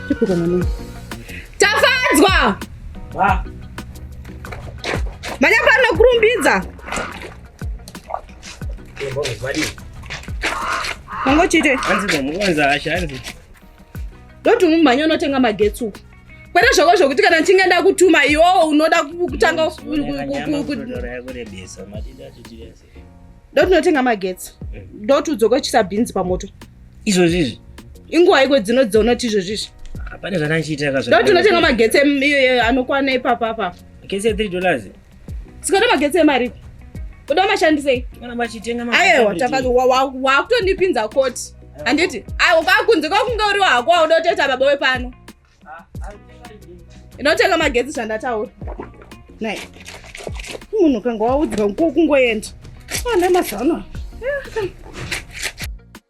kupika mwanangu. Tafadzwa! Manya pano kurumbidza. Mangochite. Hanzi zvamukonza hasha hanzi. Doti umumhanya unotenga magetsi uku. Kwete zvako zvokuti kana ndichinge ndakutuma iwowo unoda kutanga doti unotenga magetsi mm. doti udzokochisa bhinzi pamoto izvozvi izvi inguva iko dzino dzonoti izvozvi izvi pane zvananchiita doti unotenga magetsi anokwana ipapa apapa magetsi ya 3 dollars Sikana magetsi emaripi? Kuda mashandisei? Kana vachitenga magetsi. Ayewa tafadza wakutondipinza koti. Handiti? Ayewa kwakunze kwakunge uriwa hako wauda kutoita baba wepano. Ah, ah, Inotenga magetsi zvandataura. Nai. Munhu kanga waudzwa kungoenda. Ana mazano. Yeah.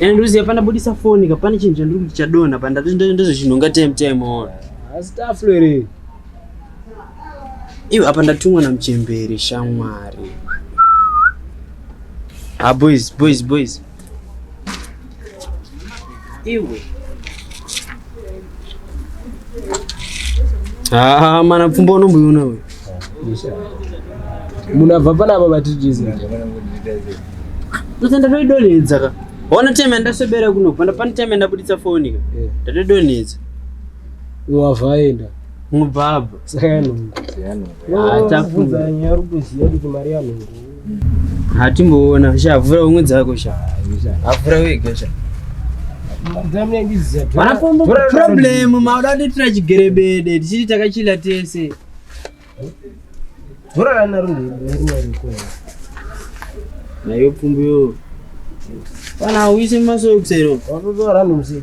And uziya pana budisa phone ka pane chinhu chandiri kuti chadona pa ndati ndizvo chinhu unga time time on. Asi taflo ere. Iwe apa ndatumwa na mchembere shamwari. Ah boys boys boys. Iwe. Ah, mana pfumba unomboiona uyu munhu abva panapa vatitiza ndosa ndatoidonhedza ka ona time yandaswebera kunobva ndapane time yandabuditsa foni ka eh. ndatoidonhedza wava aenda mubhabha saka yanhongo ah, tafunza nyaya uri kuziva kuti mari yanhongo hatimboona sha vhura umwe dzako sha avhura wega sha problem mauda nditira chigerebede tichiti takachila tese nayo pfumbu yo kana uise masoksero watotora nomuseji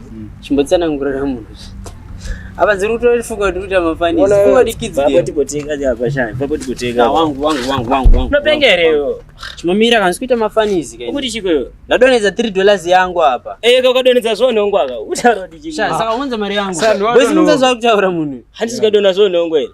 chimbotsanangurira munhu apa dziri kutofunga kuti kuita mafani funga kuti kids game papo tikutenga apa shani papo tikutenga ah, wangu wangu wangu wangu wangu unopenga here iwe chimamira kanzi kuita mafani izi kai kuti chiko iwe ndadonedza 3 dollars yangu apa eh ka ukadonedza zvo nongo aka utaura kuti chiko saka unza mari yangu boys munza zva kutaura munhu handisi kadona zvo nongo here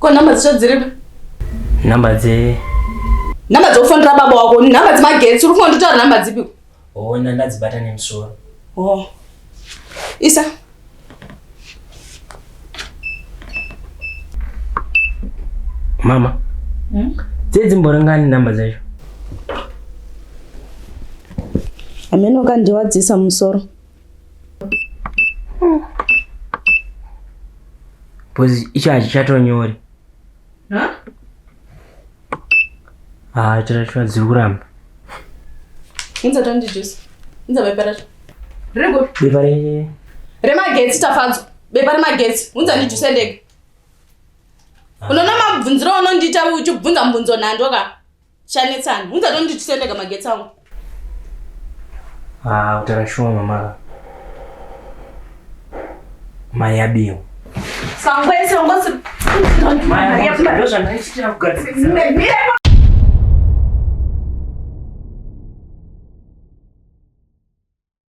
Ko number dzisho dziripi? Number dze Number dzokufonera baba wako, number dzemagetsi, uri kufanira kutaura number dzipi? Oh, ndadzibata nemusoro. Oh. Isa. Mama. Hmm? Dzedzi mborangani number dzacho. Ameno kandiwadzisa musoro. Bozi icho hachichatonyori. Ha? Ah, chirashwa dziri kuramba. Inza tandi juice. Inza bepa racho. Rego. Bepa re. Remagetsi tafadzo. Bepa remagetsi. Unza ndi juice ndege. Ah. Unoona mabvunziro unondiita uchibvunza mubvunzo nhando ka. Chanetsani, hunza tondi tisendeka magetsi angu. Ah, kutara shuwa mama. Maya bio. Sangwe sangwe. Maya, ndio zvanaichitira kugadzirisa.